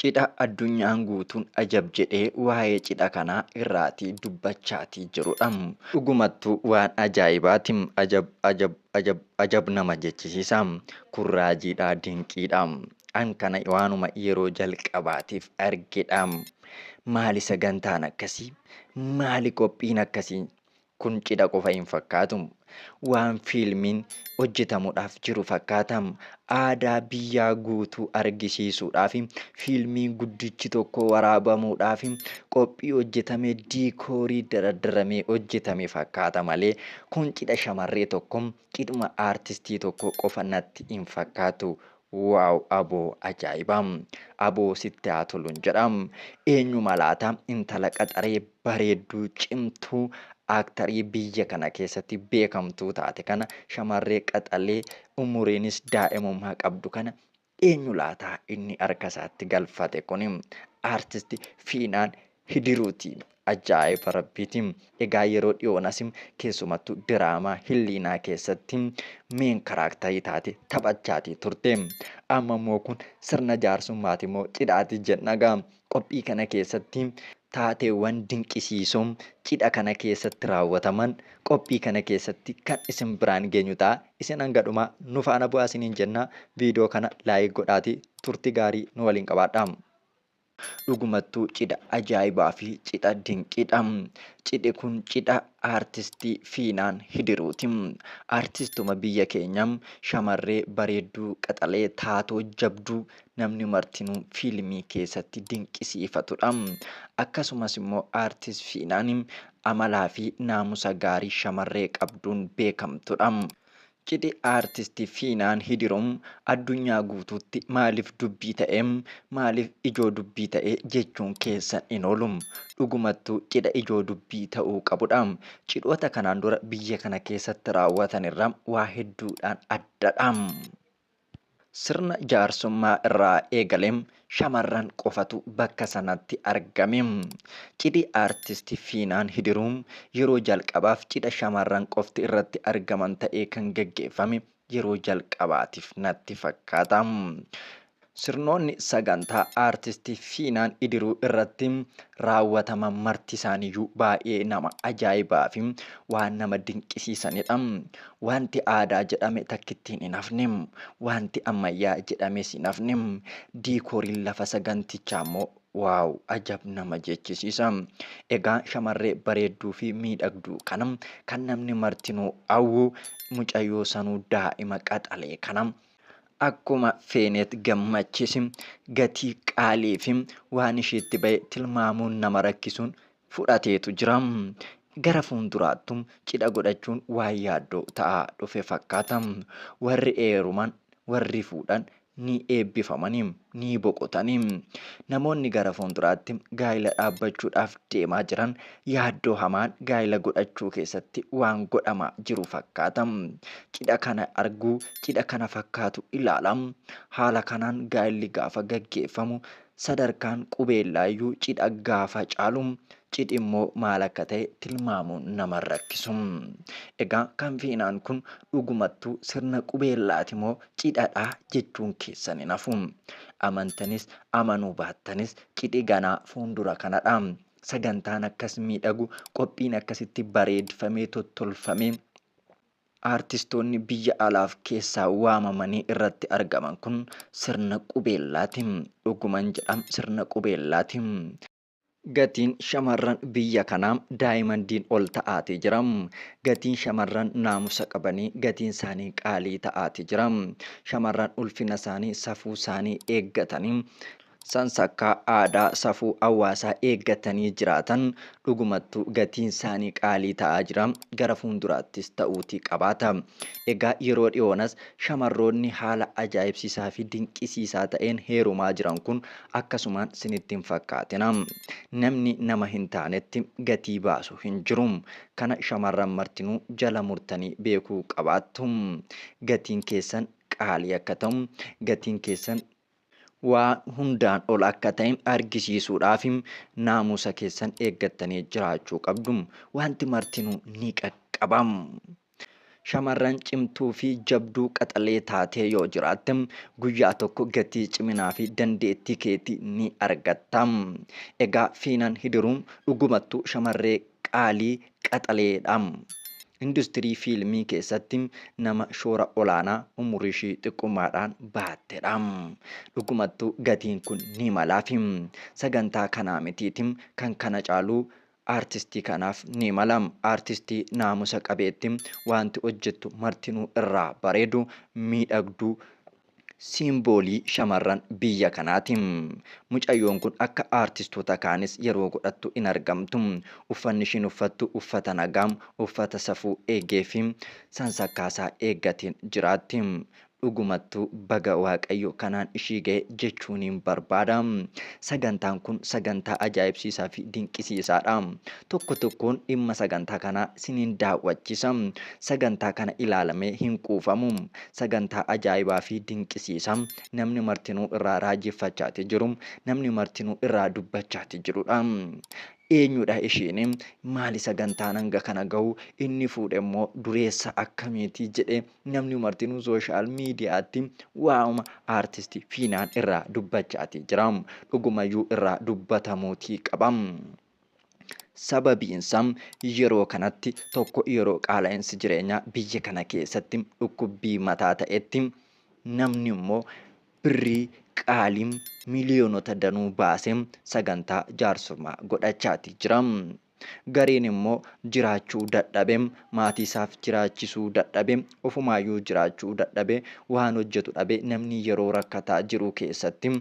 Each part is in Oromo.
Cidha addunyaan guutuun ajab jedhee waa'ee cidha kanaa irraatii dubbachaatii jirudha. Dhugumattuu waan ajaa'ibaati. Ajab ajab ajab ajab nama jechisiisa. Kun raajiidha, dinqiidha. An kana waanuma yeroo jalqabaatiif argedha. Maali sagantaan akkasii? Maali qophiin akkasii? Kun cidha qofa hin fakkaatu. Waan fiilmiin hojjetamudhaaf jiru fakkaata. Aadaa biyyaa guutuu argisiisuudhaaf fiilmii guddichi tokko waraabamuudhaaf qophii hojjetame diikoorii daraddaramee hojjetame fakkaata malee kun cidha shamarree tokko, cidhuma aartistii tokko qofa natti hin fakkaatu. Wow aboo ajaa'iba. Aboo sitti haa tolun jedha. Eenyuma laata intala qaxaree bareedduu, cimtuu, aaktarii biyya kana keessatti beekamtuu taate kana, shamarree qaxalee umuriinis daa'imummaa qabdu kana eenyu laata inni harka isaatti galfate kuni? Artist Fiinaan Hidiruuti. Ajaa'iba Rabbiiti. Egaa yeroo dhiyoonas keessumattuu diraamaa Hilliinaa keessatti meen karaaktarii taate taphachaati turte. Amma immoo kun sirna jaarsummaati moo cidhaati jenna gaa. Qophii kana keessatti taateewwan dinqisiisoo cidha kana keessatti raawwataman qophii kana keessatti kan isin biraan geenyu ta'a. Isin hanga dhumaa nu faana bu'aa isiniin jenna. Viidiyoo kana laayik godhaatii turtii gaarii nu waliin qabaadhaa. Dhugumattuu cidha ajaa'ibaa fi cidha dinqiidha. Cidhi kun cidha aartistii Fiinaan Hidiruuti. Aartistuma biyya keenya shamarree bareedduu qaxalee taatoo jabduu namni martinuu fiilmii keessatti dinqisiifatudha. Akkasumas immoo Aartist Fiinaan amalaa fi naamusa gaarii shamarree qabduun beekamtudha. Cidhi Aartist Fiinaan Hidiruu addunyaa guutuutti maaliif dubbii ta'e? Maaliif ijoo dubbii ta'e jechuun keessan hin oolu. Dhugumattuu cidha ijoo dubbii ta'uu qabudha. Cidhoota kanaan dura biyya kana keessatti raawwatan irraa waa hedduudhaan addadha. Sirna jaarsummaa irraa eegalee shamarran qofatu bakka sanatti argame. Cidhi Aartist Fiinaan Hidiruu yeroo jalqabaaf cidha shamarran qofti irratti argaman ta'ee kan gaggeeffame yeroo jalqabaatiif natti fakkaata. Sirnoonni sagantaa Aartist Fiinaan Hidiruu irratti raawwataman marti isaaniyyuu baay'ee nama ajaa'ibaa fi waan nama dinqisiisanidha. Waanti aadaa jedhame takkittiin hin hafne. Waanti ammayyaa jedhames hin hafne. Diikooriin lafa sagantichaa immoo waaw ajab nama jechisiisa. Egaa shamarree bareedduu fi miidhagduu kana kan namni martinuu hawwu mucayyoo sanuu daa'ima qaxalee kana akkuma feeneet gammachisi gatii qaalii fi waan ishiitti ba'e tilmaamuun nama rakkisuun fudhateetu jira. Gara fuulduraattu cidha godhachuun waan yaaddoo ta'aa dhufe fakkaata. Warri eeruman, warri fuudhan ni eebbifamani, ni boqotani. Namoonni gara fuulduraatti gaa'ila dhaabbachuudhaaf deemaa jiran yaaddoo hamaan gaa'ila godhachuu keessatti waan godhamaa jiru fakkaata. Cidha kana argu, cidha kana fakkaatu ilaala. Haala kanaan gaa'illi gaafa gaggeeffamu Sadarkaan qubeellaayyuu cidha gaafa caalu cidhimmoo maal akka ta'e tilmaamuun nama hin rakkisu. Egaa kan feenaan kun dhugumattuu sirna qubeellaatimoo cidhadhaa jechuun keessan hin hafu. Amantanis amanuu baattanis cidhi ganaa fuundura kanadha. Sagantaan akkas miidhagu, qophiin akkasitti bareedfamee tottolfamee, Aartistoonni biyya alaaf keessaa waamamanii irratti argaman kun sirna qubeellaati. Dhuguman jedha sirna qubeellaati. Gatiin shamarran biyya kanaa daayimandiin ol ta'aati jira. Gatiin shamarran naamusa qabanii gatiin isaanii qaalii ta'aati jira. Shamarran ulfina isaanii, safuu isaanii eeggatanii Sansakkaa aadaa safuu hawaasaa eeggatanii jiraatan dhugumattuu gatiinsaanii qaalii ta'aa jira, gara fuulduraattis ta'uutii qabaata. Egaa yeroo dhiyoonas shamarroonni haala ajaa'ibsiisaafi dinqisiisaa ta'een heerumaa jiran kun akkasumaan sinitti hin fakkaatina. Namni nama hin taanetti gatii baasu hin jiru. Kana shamarran martinuu jala murtanii beekuu qabaattu. Gatiin keessan qaalii akka ta'u, gatiin keessan waan hundaan ol akka ta'e argisiisuudhaaf naamusa keessan eeggattanii jiraachuu qabdu. Wanti martinuu ni qaqqaba. Shamarran cimtuu fi jabduu qaxalee taatee yoo jiraatte guyyaa tokko gatii ciminaa fi dandeettii keetii ni argatta. Egaa Fiinan Hidiruu dhugumattuu shamarree Qaalii qaxaleedha. Industirii fiilmii keessatti nama shoora olaanaa umuriishii xiqqummaadhaan bahattedha. Dhugumattuu gatiin kun ni malaafi. Sagantaa kanaa mitiiti kan kana caalu aartistii kanaaf ni mala. Aartistii naamusa qabeetti, waanti hojjettu martinuu irraa bareedu, miidhagdu, Siimboolii shamarran biyya kanaati. Mucayyoon kun akka aartistoota kaanis yeroo godhattu hin argamtu. Uffanni ishiin uffattu uffata nagaa, uffata safuu eegeefi sansakkaasaa eeggateen jiraatti. Dhugumattuu baga Waaqayyo kanaan ishii gahe jechuuniin barbaada. Sagantaan kun sagantaa ajaa'ibsiisaafi dinqisiisaadha. Tokko tokkoon dhimma sagantaa kanaa siniin daawwachiisa. Sagantaa kana ilaalamee hin quufamu. Sagantaa ajaa'ibaa fi dinqisiisaa namni martinuu irraa raajeffachaati jiru, namni martinuu irraa dubbachaati jiru dha. Eenyu dha ishiin? Maali sagantaan hanga kana gahu? Inni fuudhe immoo dureessa akkamiiti? jedhee namni martinuu sooshaal miidiyaatti waa'uma aartisti Fiinaan irraa dubbachaati jira. Dhugumayyuu irraa dubbatamuutii qaba. Sababiinsa yeroo kanatti tokko yeroo qaala'insi jireenyaa biyya kana keessatti dhukkubbii mataa ta'etti namni immoo birrii qaalii miliyoonota danuu baasee sagantaa jaarsummaa godhachaati jira. Gariin immoo jiraachuu dadhabe maatii isaaf jiraachisuu dadhabe ofumaayyuu jiraachuu dadhabe waan hojjetu dhabe namni yeroo rakkataa jiru keessatti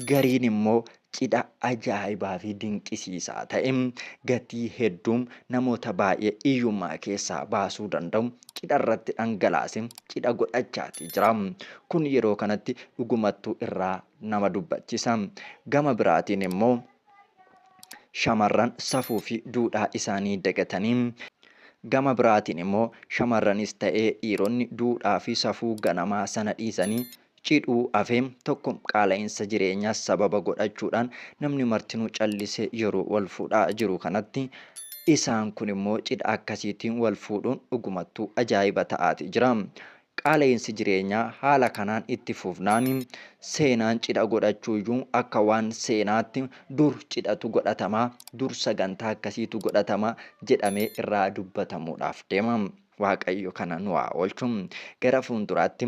Gariin immoo cidha ajaa'ibaa fi dinqisiisaa ta'e, gatii hedduu namoota baay'ee hiyyummaa keessaa baasuu danda'u cidha irratti dhangalaasee cidha godhachaatii jira. Kun yeroo kanatti dhugumattuu irraa nama dubbachisa. Gama biraatiin immoo shamarran safuu fi duudhaa isaanii dagatanii gama biraatiin immoo shamarranis ta'ee dhiironni duudhaa fi safuu ganamaa sana dhiisanii cidhuu hafe tokko qaala'insa jireenyaa sababa godhachuudhaan namni martinuu callisee yeroo wal fuudhaa jiru kanatti isaan kun immoo cidha akkasiitiin wal fuudhuun dhugumattuu ajaa'iba ta'aati jira. Qaala'insi jireenyaa haala kanaan itti fufnaan seenaan cidha godhachuuyyuu akka waan seenaatti dur cidhatu godhatamaa, dur sagantaa akkasiitu godhatamaa jedhamee irraa dubbatamuudhaaf deema. Waaqayyo kana nu haa oolchu. Gara fuulduraatti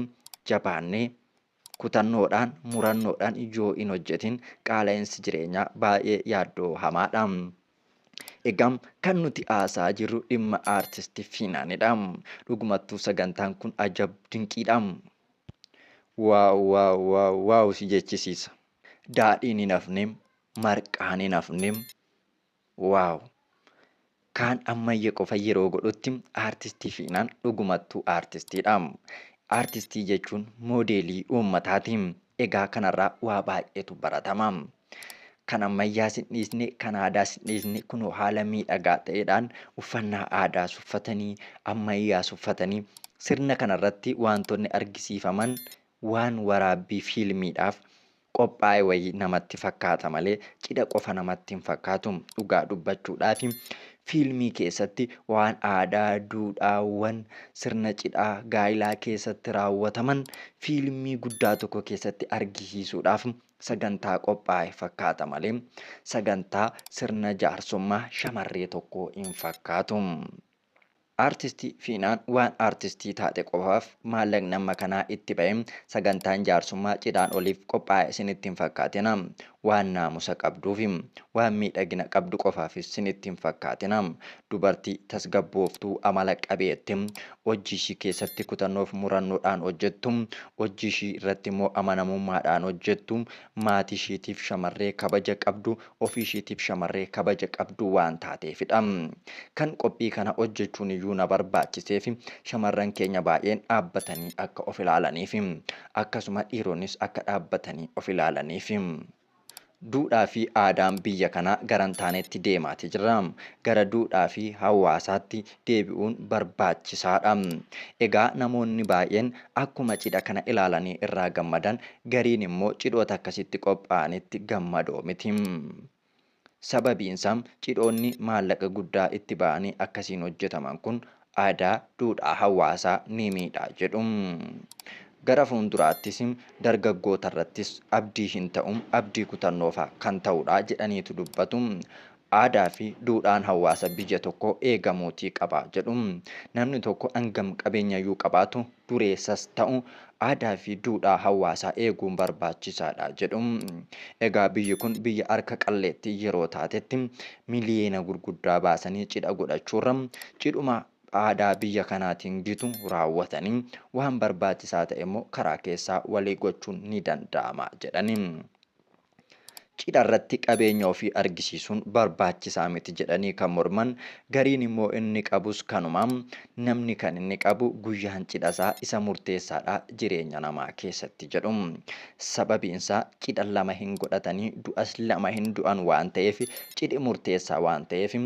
jabaannee kutannoodhaan, murannoodhaan yoo hin hojjetin qaala'insi jireenyaa baay'ee yaaddoo hamaadha. Egaa kan nuti haasa'aa jirru dhimma aartisti Fiinaanidha. Dhugumattuu sagantaan kun ajab dinqiidha. Waaw waaw waaw waaw si jechisiisa. Daadhiin hin hafne, marqaan hin hafne. Wow! Kaan ammayya qofa yeroo godhutti Artist Fiinaan dhugumattuu Artistiidha. Artistii jechuun moodeelii uummataati. Egaa kanarraa waa baay'eetu baratama. Kan ammayyaas hin dhiisne, kan aadaas hin dhiisne kunoo haala miidhagaa ta'eedhaan uffannaa aadaas uffatanii, ammayyaas uffatanii sirna kanarratti waantonni argisiifaman waan waraabbii fiilmiidhaaf qophaa'e wayii namatti fakkaata malee cidha qofa namatti hin fakkaatu. Dhugaa dubbachuudhaaf fiilmii keessatti waan aadaa, duudhaawwan sirna cidhaa, gaa'ilaa keessatti raawwataman fiilmii guddaa tokko keessatti argisiisuudhaaf sagantaa qophaa'e fakkaata malee sagantaa sirna jaarsummaa shamarree tokkoo hin fakkaatu. Artisti Fiinaan waan artistii taate qofaaf maallaqni amma kanaa itti ba'e sagantaan jaarsummaa cidhaan oliif qophaa'e sinitti hin fakkaatina. Waan naamusa qabduufi waan miidhagina qabdu qofaafis sinitti hin fakkaatina. Dubartii tasgabbooftuu, amala qabeetti, hojji ishii keessatti kutannoof murannoodhaan hojjettu, hojji ishii irratti immoo amanamummaadhaan hojjettu, maatii ishiitiif shamarree kabaja qabdu, ofii ishiitiif shamarree kabaja qabdu waan taateefidha. Kan qophii kana hojjechuun iyyuu na barbaachiseef shamarran keenya baay'een dhaabbatanii akka of ilaalaniif, akkasuma dhiironnis akka dhaabbatanii of ilaalaniif. Duudhaa fi aadaan biyya kanaa gara hin taanetti deemaati jira. Gara duudhaa fi hawaasaatti deebi'uun barbaachisaadha. Egaa namoonni baay'een akkuma cidha kana ilaalanii irraa gammadan gariin immoo cidhoota akkasitti qophaa'anitti gammadoo miti. Sababiinsaa cidhoonni maallaqa guddaa itti ba'anii akkasiin hojjetaman kun aadaa, duudhaa hawaasaa ni miidha jedhu. Gara fuulduraattis dargaggootarrattis abdii hin ta'u, abdii kutannoofaa kan ta'udha jedhaniitu dubbatu. Aadaafi duudhaan hawaasa biyya tokkoo eegamuutii qaba jedhu. Namni tokko hangam qabeenyayyuu qabaatu, dureessas ta'u aadaafi duudhaa hawaasaa eeguun barbaachisaadha jedhu. Egaa biyyi kun biyya harka qalleettii yeroo taatetti miliyeena gurguddaa baasanii cidha godhachuurra cidhuma aadaa biyya kanaatiin gitu raawwatanii waan barbaachisaa ta'emmoo karaa keessaa walii gochuun ni danda'ama jedhani. Cidharratti qabeenya ofii argisiisuun barbaachisaa miti jedhanii kan morman gariin immoo inni qabus kanuma. Namni kan inni qabu guyyaan cidhasaa isa murteessaadha jireenya namaa keessatti jedhu. Sababiinsaa cidha lama hin godhatanii du'as lama hin du'an waan ta'eef cidhi murteessaa waan ta'eef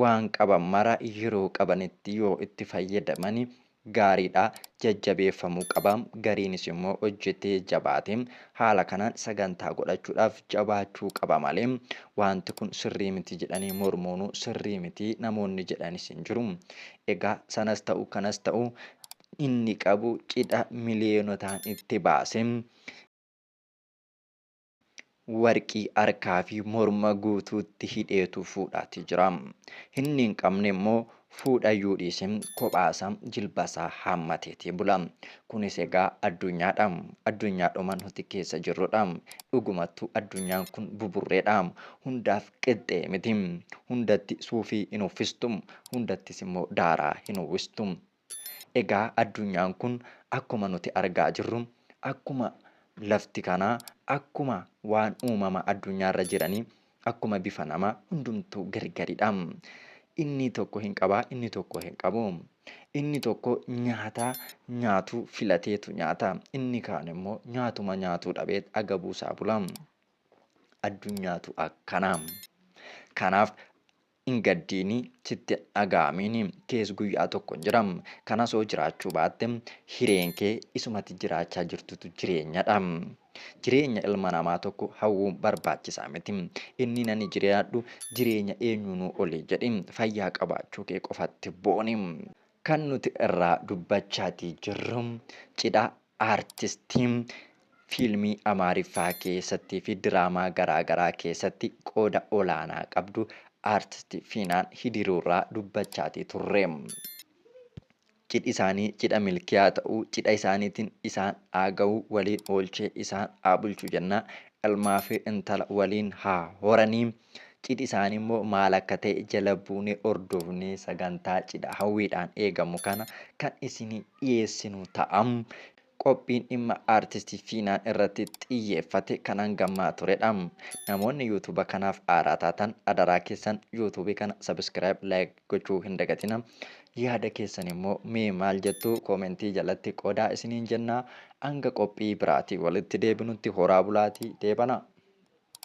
waan qaban mara yeroo qabanitti yoo itti fayyadamani gaariidha jajjabeeffamuu qaba gariinis immoo hojjetee jabaate haala kanaan sagantaa godhachuudhaaf jabaachuu qaba malee waanti kun sirrii miti jedhanii mormuunuu sirrii miti namoonni jedhanis hin jiru egaa sanas ta'u kanas ta'u inni qabu cidha miliyonotaan itti baase Warqii harkaa fi morma guutuutti hidheetu fuudhaati jira. Inni hin qabne immoo fuudha iyyuu dhiisi kophaasaa jilbasaa haammateeti bula. Kunis egaa addunyaadha. Addunyaadhuma nuti keessa jirrudha. Dhugumattuu addunyaan kun buburreedha. Hundaaf qixxee miti. Hundatti suufii hin uffistu. Hundattis immoo daaraa hin uwwistu. Egaa addunyaan kun akkuma nuti argaa jirru, akkuma lafti kanaa, akkuma waan uumama addunyaa irra jiranii, akkuma bifa namaa hundumtuu gargaridha. Inni tokko hin qaba, inni tokko hin qabu. Inni tokko nyaata nyaatu filateetu nyaata. Inni kaan immoo nyaatuma nyaatuu dhabee agabuu isaa bula. Addunyaatu akkana. Kanaaf Hin gaddiini, sitti hin dhaga'amiini, kees guyyaa tokko hin jira. Kan asoo jiraachuu baatte hireen kee isuma ati jiraachaa jirtutu jireenyadha. Jireenya ilma namaa tokko hawwuun barbaachisaa miti. Inniin ani jiraadhu jireenya eenyuunuu oli jedhi. Fayyaa qabaachuu kee qofatti booni. Kan nuti irraa dubbachaatii jirru cidha Artistiin fiilmii Amaariffaa keessattii fi diraamaa garaa garaa keessatti qooda olaanaa qabdu Artisti Fiinaan Hidiruurraa dubbachaatii turre. Cidhi isaanii cidha milkiyaa ta'uu, cidha isaaniitiin isaan haa gahu, waliin oolchee isaan haa bulchu jenna. Ilmaa fi intala waliin haa horanii. Cidhi isaanii immoo maal akka ta'e jala buunee hordofnee sagantaa cidha hawwiidhaan eegamu kana kan isinii dhiyeessinu ta'a. Qophiin dhimma Artist Fiinaan irratti xiyyeeffate kan hanga ammaa turedha. Namoonni YouTube kanaaf haaraa taatan adaraa keessan YouTube kana subscribe, like gochuu hin dagatina. Yaada keessan immoo mee maal jettu koomentii jalatti qoodaa isiniin jenna. Hanga qophii biraatii walitti deebinutti horaa bulaatii deebanaa.